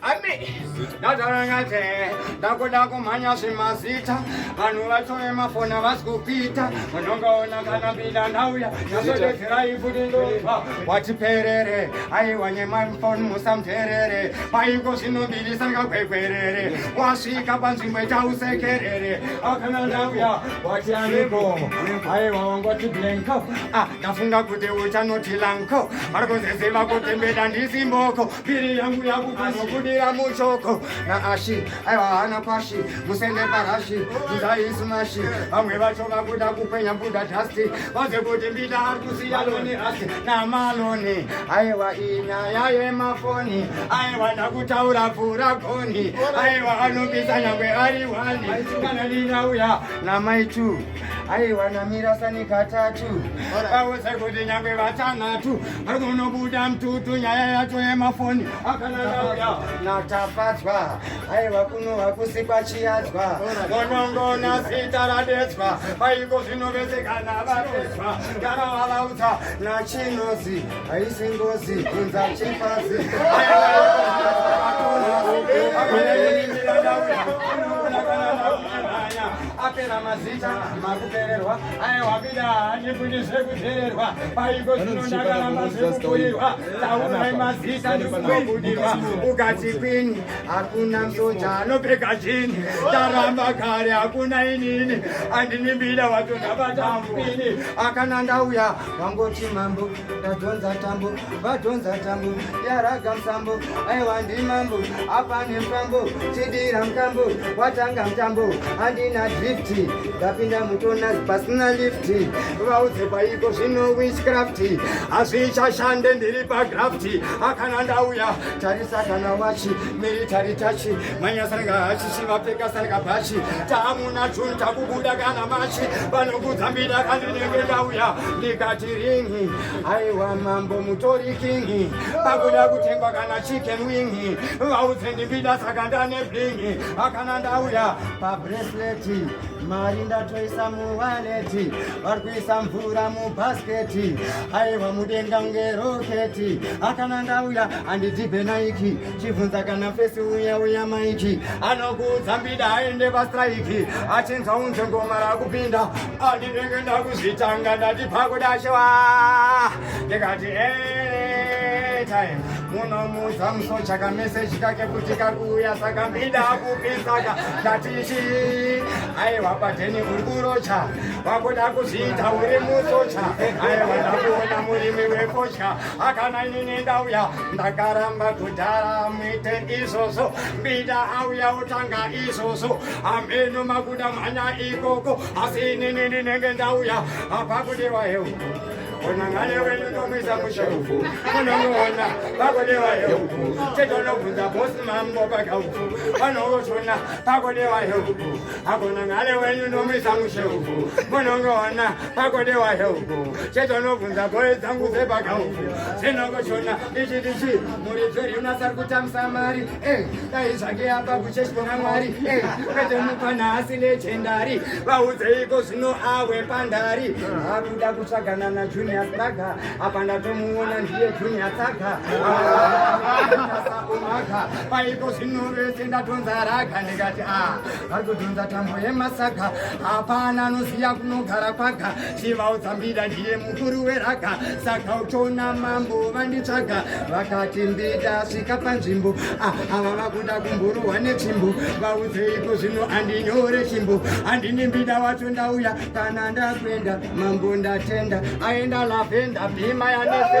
Ami, ndatarangate, ndakuda kumhanya zvemazita vanhu vacho vemafoni havasi kukuita unongaona kana pinda ndauya ndazodedzerai futi ndobva wati perere aiwa nyemafoni musamterere paiko zvinobirisa ngagwegwerere wasvika panzvimbo itausekerere akana ndauya wati aniko aiwa wangoti blanko ah, ndafunga kuti uchanoti lanko vari kuziziva kuti mbeda ndisimboko Piri yangu yangu kunokudira muchoko naashi aiwa hana kwashi musende parashi mudaisu mashi vamwe vacho vakuda kupenya buda dhasti vaze kuti mbida ari kusiya loni asi namaloni aiwa inyaya yemafoni aiwa ndakutaura pfura goni aiwa anobisa nyangwe ari wani kana ndinauya namai two aiwa namira sani katatu vauza kuti nyangwe vatanhatu vari kunobuda mututu nyaya yacho yemafoni akananauya natafadzwa aiwa kuno hakusikwa chiyadzwa monongona zita radedzwa vaiko zvinovesekana vadedzwa kana vavaudza nachinozi haisi ngozi kunza chifazi aiwa apera mazita makupererwa aewabida handifundiswe kuzererwa paiko zvino ndakaramba zvekukurirwa taurai mazita ndikumabudirwa ukati kwini hakuna msoja anopfeka chini ndaramba kare hakuna inini andinimbida watondabatamupini akana ndauya wangoti mambo Tadhonza tambo, vadhonza tambo, yaraga msambo, aiwa ndimambo, apa nemtambo, chidira mtambo, watanga mtambo, handina drifti, ndapinda mutonas pasina lifti, vaudze kwaiko zvino witchcrafti, hazvichashande ndiri pagrafti, akana ndauya, tarisa kana wachi, military tachi, manya sarga hachi chivapfeka sarga bhachi tamuna juni takubuda kana machi vanokudza mbida kandinenge ndauya ndikati ringi aiwa mambo mutori kingi pakuda kutengwa kana chicken wingi vaudze ndimbida saka ndane blingi akana ndauya pabresleti mari ndatoisa muwaleti vari kuisa mvura mubhasketi aiwa mudenga ngeroketi akana ndauya andidhibhe naiki chibvunza kana fesi uya uya maiki anokuudza mbida aende pastraiki achinzwa unze ngoma rakupinda andinenge ndakuzvitanga ndati pakudashewa ndikati eh, time munomuudza musocha kameseji kake kuti kakuuya saka mbida akupisaka ndati chii aiwa padheni uri kurocha wakuda kuzviita uri musocha aiwa ndakuona murimi wekotya akana inini ndauya ndakaramba kudhara muite izvozvo mbida auya utanga izvozvo ameno makuda mhanya ikoko asi inini ndinenge ndauya apakudewa hewu unangane wenu ndomwisa musherufu unomuona pakodewa heuku chetonobvunza bosi mambo pakauku vanootona pakodewa heuku akonangale wenyu nomisa mushe uku munongoona pakodewa heuku chetonobvunza goe dzangu dzepaka uku dzinokoshona ichi ndichi muridzi riunas ari kutamisa mari eh, dai zvake apa kucheshona mwari eh, kwete mupana asi nechendari vaudzeiko zvino awe pandari akuda kutsvagana najunior saga apa ndatomuona ndiye junior saga asakumaka paiko zvino vese ndatonzaraga ndikati a ah. vatodhonza tambo yemasaga hapana anoziva kunogara kwaga chivaudza mbida ndiye mukuru weraga saka uchiona mambo vanditsvaga vakati mbida svika panzvimbo ah, ava vakuda kumburuhwa netsvimbo vaudzeiko zvino andinyore chimbo handini mbida wacho ndauya kana ndakuenda mambo ndatenda aenda lavenda bhima yanese